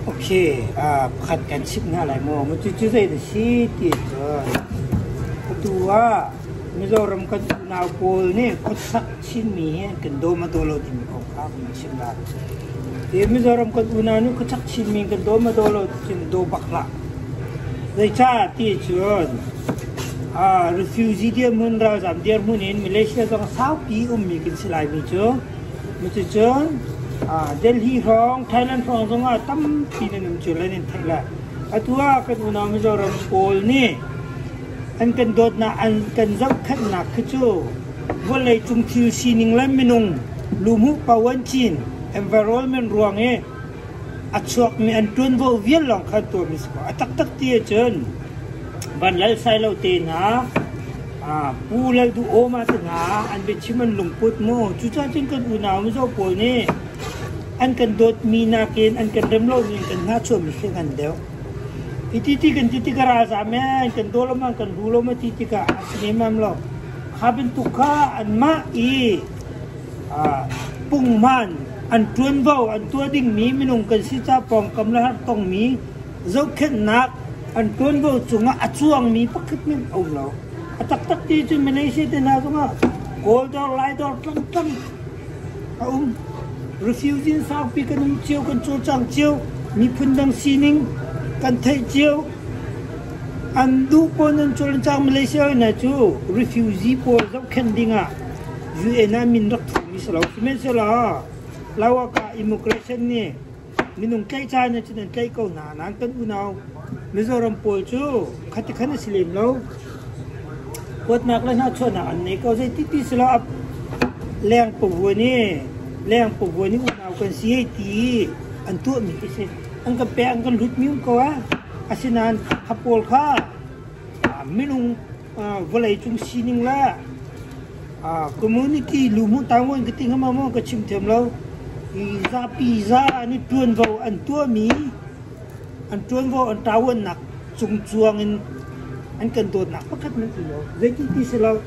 Ok, pakhat kan chimh hna lai maw? Cucu zeidah a si ti ahcun, atu ah Mizoram kan unau pawl nih khuasak chinmi hi an kan dawm a daw lo timi kong kha kan rak chimh lai. Hi Mizoram kan unau nih khuasak chinmi an kan dawm a daw lo tiin daw bak hlah. Zeicah ti ahcun, refugee dirhmun, ralzam dirhmun in Malaysia zong saupi ummi kan si laimi cu, Cuticun Delhi hrawng Thailand hrawng zongah tampi nan um cio lai nan theih lai. Atu ah kan unau Mizoram pawl nih an kan dawtnak, an kan zohkhenhnak khi cu vawleicung thil sining le minung luhmuh po an cin environment ruang i a chuakmi an ṭuanvo vial lawng kha tuahmi a si ko. A taktak ti ahcun van lalsai lo tenak, Pu Lalduhawma te hna an biachim an lungput maw? Cucaah cun kan unau mizaw pawl nih an kan dawtmi nakin an kan rem lomi in kan hngahchuahmi hring an deuh. Hiti ti kan ti tikah ralzam ee, kan daw lo man, kan ru lo ma ti tikah a si nemam lo. Kha bantuk kha anmah i ah, pungman an ṭuanvo an tuah dingmi minung kan si caah pawngkam le har tongmi zohkhenhnak an ṭuanvo cungah a cuangmi pakhat nih a um lo. A taktak ti cu Malaysia te hna zongah Kawl dawr, Lai dawr tlangtlang a um. Refugee saupi kan um cio, kan cawlcang cio. Miphun dang sining kan theih cio. An duh pawl nan cawl an cang Malaysia hna cu refugee pawl zohkhenh dingah UN ah min rak thawkmi si lo. Sihmanhsehlaw Lawak ah immigration nih Minung tlaihcaan nih cun an tlaih ko hna. Nain kan unau Mizoram pawl cu khatikhan a si lem lo. Kuatnak le hnahchuahnak an nei ko. Zei tipi si lo, a leng pavuan i leng pavuan i unau kan si hei ti an tuahmi khi si. An kan pek, an kan hlutmium ko a. Asinain a pawl kha minung vawleicung sining le community luhmuh tamu in ka ti ngam maw ka chim thiam lo. Hi zapi za an i ṭuanvo an tuahmi an ṭuanvo an ṭawannak cungcuang in an kan dawtnak pakhat nan ti lo. Zeiti ti si lo.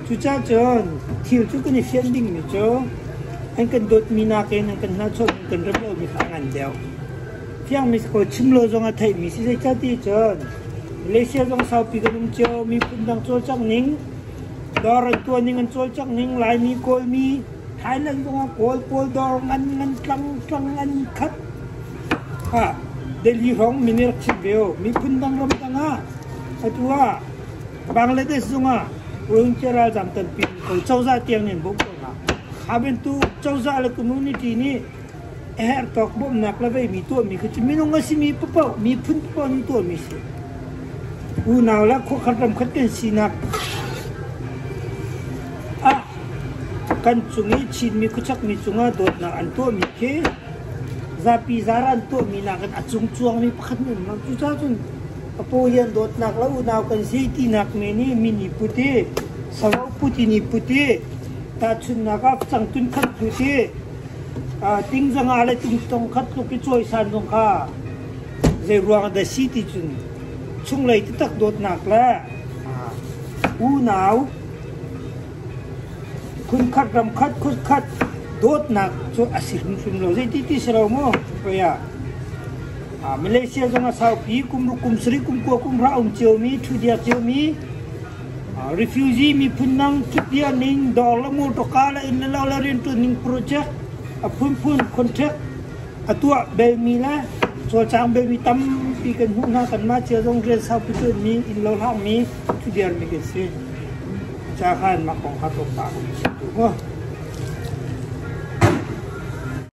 Cucacun thil cu kan i fianh dingmi cu an kan dawtmi nakin an kan hnahchuah kan rem lomi hla ngan deuh. Fiangmi si kho chim lo zong a theihmi si zeicah ti cun Malaysia zong saupi kan um cio. Miphun dang cawlcanghning, dawr an tuahning an cawlcanghning, Laimi Kawlmi, Thailand zong ah Kawl pawl dawr ngan ngan tlang tlang an khat. Ah, Delhi hrawng min i rak chimh ve u. Miphun dang ramdang ah atu ah Bangladesh zong ah Uighur ralzam tampi an kho. Cozah tiang nih an bawmh ko hna. Abentu cozah le community nih a herhtawk bawmhnak le veimi tuahmi khi cu minung a simi paoh miphun paoh an tuahmi a si. Unau le khuakhan ramkhat kan sinak ah kan cung i Chinmi khuachakmi cungah dawtnak an tuahmi khi zapi zara an tuahmi nakin a cung cuangmi pakhat an um lo. Cucaah cun a paw hi an dawtnak le unau kan si tinak men i min i put i savo put in i put i tahchunhnak ah cangtun khat put i Tingzang ah le tungtong khat tluk i cawisan zong kha zeiruang ah dah a si ti cun chunglei taktak dawtnak le unau khunkhat ramkhat khutkhat dawtnak cu a si hrimhrim lo. Zeiti ti si lo mu hoi ah. Malaysia zong a saupi kum ruk kum sarih kum kua kum hra a um cio mi, ṭhu diar cio mi Refugee miphun dang cupiah ning, dawr le mawṭawka le inn le lo le rianṭuanning project, a phunphun contract a tuah belmi le cawlcang belmi tampi kan hmuh hna. Kanmah cia zong rian saupi ṭuanmi, innlo hlakmi cu vialte kan si. Ca kha mah kong kha tlawmpal kan chim tuk maw?